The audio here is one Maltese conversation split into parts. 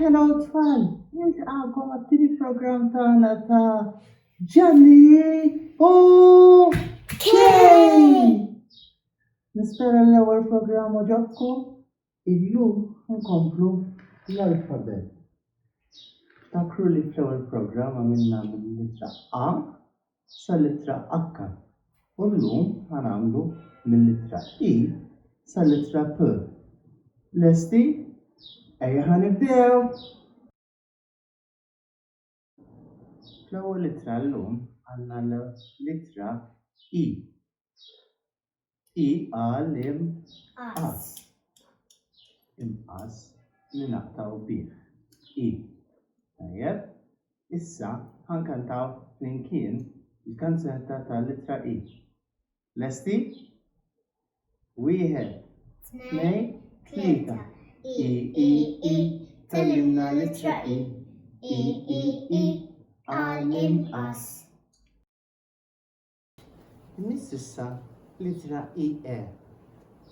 Hello tfal, nilqakom għat-tieni programm tagħna ta' Ġanni u Kej! Nispera l-ewwel programm oġobkom Illum inkomplu bl-alfabet. Ftakru li fl-ewwel programm għamilna mill-littra A sal-littra H u llum ħa nagħmlu mill-littra I sal-littra P. Lesti? Ejja ħa nibdew! fl-ewwel ittra llum għandna l-ittra e e għal imqass imqass li naqtgħu bih e tajjeb issa ħankantaw flimkien il-kanzunetta tal-ittra e Lesti? Wieħed, tnej, tlieta. I, i, i, tallimna l-ittra i. I, i, i, għal inqas. Miss issa l-ittra i e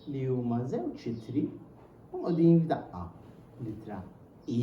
li huma żewġ itri u qogħdin f'daqqa. L-ittra i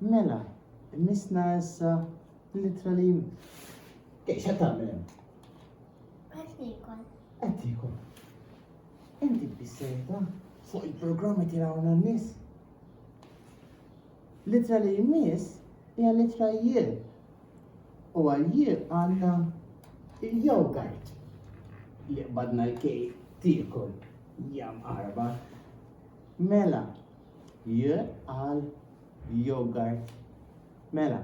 Mela, misna issa l-ittra li jmiss. Kif xa tagħmel hemm? Qed nikol. Qed nikol. Inti bissejta fuq il-programm qed jirawna n-nies. L-ittra li jmiss hija l-ittra jien. U għal-jien għandna il-jogurt li qbadna l-kej tiekol jam arba. Mela, J għal yogurt. Mela,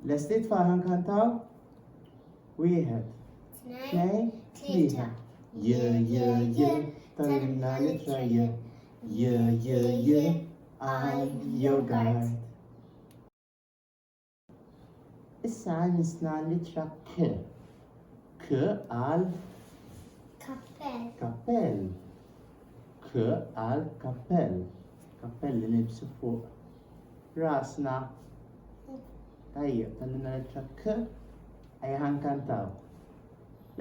lesti tfal nkantaw? Wieħed, tnejn, tlieta. J, j, j, tal-imna litra j. J, j, j, għal yogurt. Issa għajnisna l-ittra K. K għal kappell. Kappell. K għal kappell. Kappell li nibsu fuq rasna. Tajja, tallina l-ittra K. Għajja ħankantaw.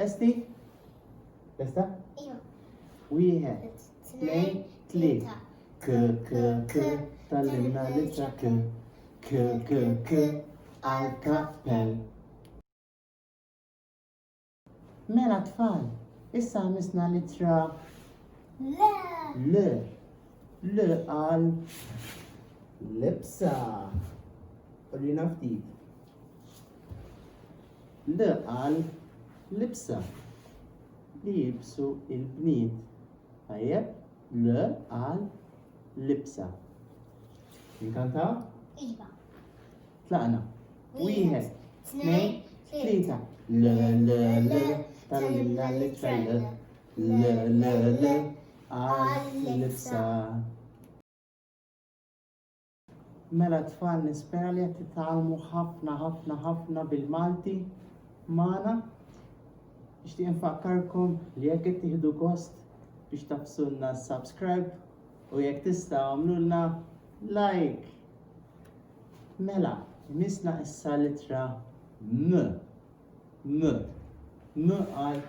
Lesti? Lesta? Ija. Wieħed. tnejn, tlieta. K, k, k, tallimna l-ittra k. K, k, k, għal-kappell. Mela tfal, issa misna l-ittra L. L. L għal libsa. Urina ftit. L għal libsa. li jilbsu l-bniet. Tajjeb? Le għal libsa. Inkantaw? Iva. Tlaqna. Wieħed, tnejn, tlieta. Le le le, tal-lilla li trelle. Le le le, għal libsa. Mela t-tfal nispera li qed titgħallmu ħafna ħafna ħafna bil-Malti magħna. Nixtieq infakkarkom li jekk qed tieħdu gost biex tafsulna subscribe u jekk tista' għamlulna like. Mela, misna issa litra M. M. M għal.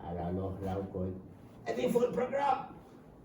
Ara l-oħra wkoll. Qegħdin fuq il-programm.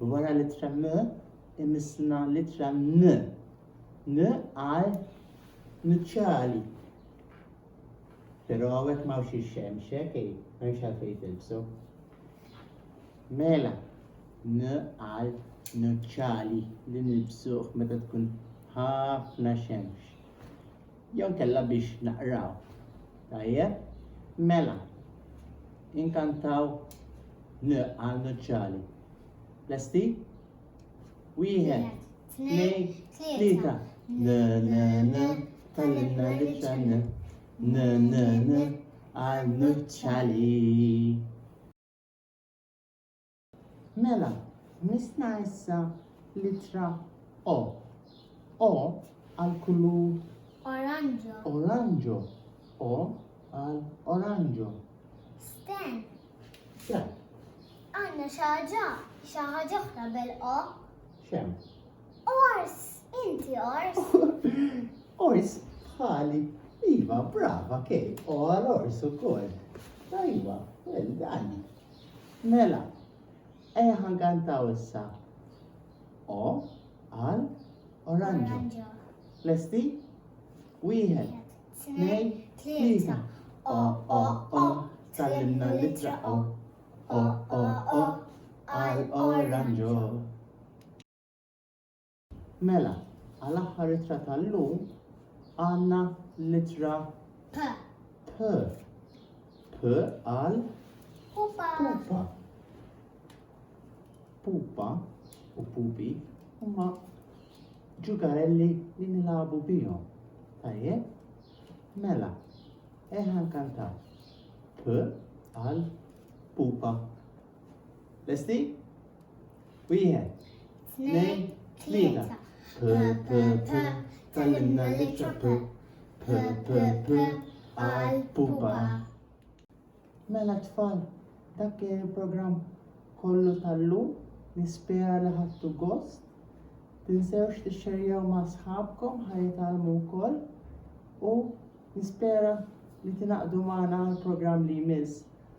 Wara l-ittra M imissna l-ittra N. N għal nuċċali. Però għawek ma wxi xemx, ekej, ma wxi għalfej tilbsu. Mela, N għal nuċċali li nilbsuħ meta tkun ħafna xemx. Jew inkella biex naqraw. Tajjeb. Mela. Inkantaw 'N' għal nuċċali. Lesti? Tnejn, tlieta. N, n, n, tgħallimna l-ittra N. N, n, n, għal nuċċali. Mela, missna issa l-ittra O. O għal kulur. Oranġo. Oranġo. O għal oranġo. Sten. Xem. Għanna xaġa, xaħġa oħra bel-O. Xem. Ors, inti ors. ors, ħali. Iva, brava, kej, o għal ors u kol. Tajwa, well done. Mela, ejja ħankantaw issa. O għal oranġo. Lesti? Wieħed, tnejn, tlieta. O o o, tallimna l-ittra o. O o o, għal oranġo. Mela, għal aħħar ittra tal-lum għandna l-ittra P. P. P għal Pupa. pupa. Pupa u pupi huma ġugarelli li nilagħbu bihom. Tajjeb? Mela, eħa nkantaw. P għal pupa. Lesti? Wieħed, tnejn, tlieta. P, p, p, tallimna l-ittra p, p, p, p, għal pupa. Mela tfal, dak kien il-programm kollu tal-lum, nispera li ħattu gost. Tinsewx tixxerjaw ma' sħabkom ħajitalmu wkoll u nispera li tinaqdu magħna għall-programm li jmiss.